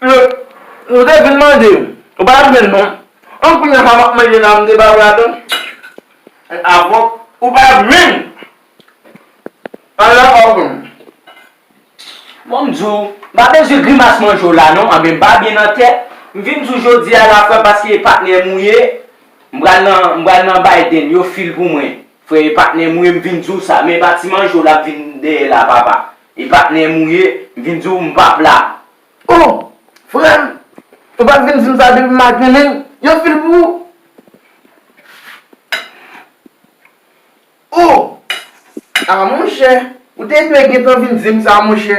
Nou te vin mande m. Ou pa renmen l non. An kounya sa map manje la mnde ba brado. An avòk. Ou pa renmen l. An la avòk m. Bon m di w, m pa bezwen grimas manje w la non. Anben m pa byen nan tèt. M vin di w jodi a la frè m paske patnè m ou ye. M pral nan bay den. Yo fil pou mwen. Frè e patnè mouye m vin diw sa men pati manje w la ap vin dèyè la papa e patnè mouye m vin diw m pap la. Oh! Frè m, ou pa t vin di m sa depi m ak Nenel yon fil pou ou. Oh! Ah monchè, ou te dwe gentan vin di m sa monchè.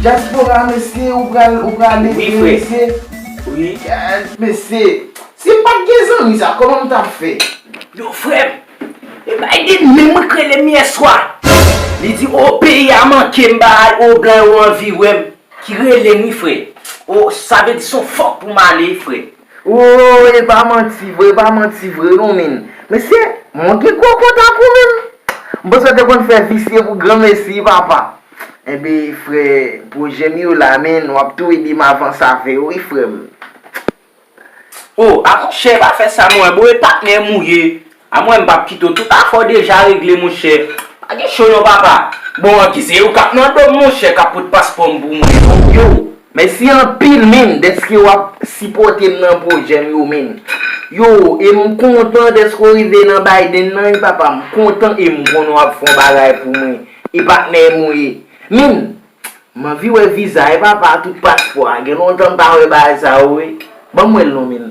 Diaspora mesye ou pral ou pral ale vre mesye wi frè mesye si pat gen zanmi sa koman m tap fè yo frè m e bay de menm mwen k rele m yeswa li di o peyi a manke m bagay o blan yo anvi wè m ki rele m wi frè o sa vle di son fòk pou m ale frè. Ooh epa manti vre epa manti vre non min mesye mwen gen kò konta kou menm m panse yo te konn fè visye pou granmesi papa enbe frè projè m yo la min wap tou ede m avans avè yo wi frè m. Oh amonchè pa fè sa non eboo e patnèm ou ye. A mwen m pap kite w tout afè w deja regle monchè pa gen cho non papa. Bon an ki se yo kap nan dom monchè kap pot paspòm pou mwen yo. Yow mèsi anpil min dèske wap sipòtem nan pwojèm yo min yow em kontan dèske w rive nan Biden nan wi papa m kontan em konnen wap fon bagay pou mwen e patnè m ou ye min m anvi wè viza e papa tout paspò a gen lontan m pa wè bagay sa yo wi banm wèl non min.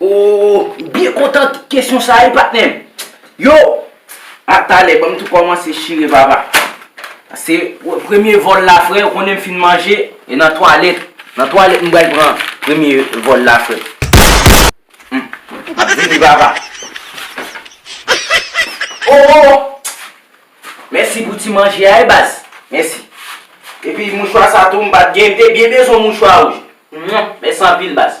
Ooh m byen kontan ak kesyon sa wi patnè m Yo! A talè banm tou kòmanse chire papa Se premye vòl la frè ou konnen m fin manje e nan twalèt Nan twalèt m pral pran premye vòl la frè M ap vini papa Ooh! Mèsi pou ti manje a wi baz. Mèsi. Epi mouchwa sa tou m pat gen, m te byen bezwen mouchwa wouj. Mèsi anpil baz.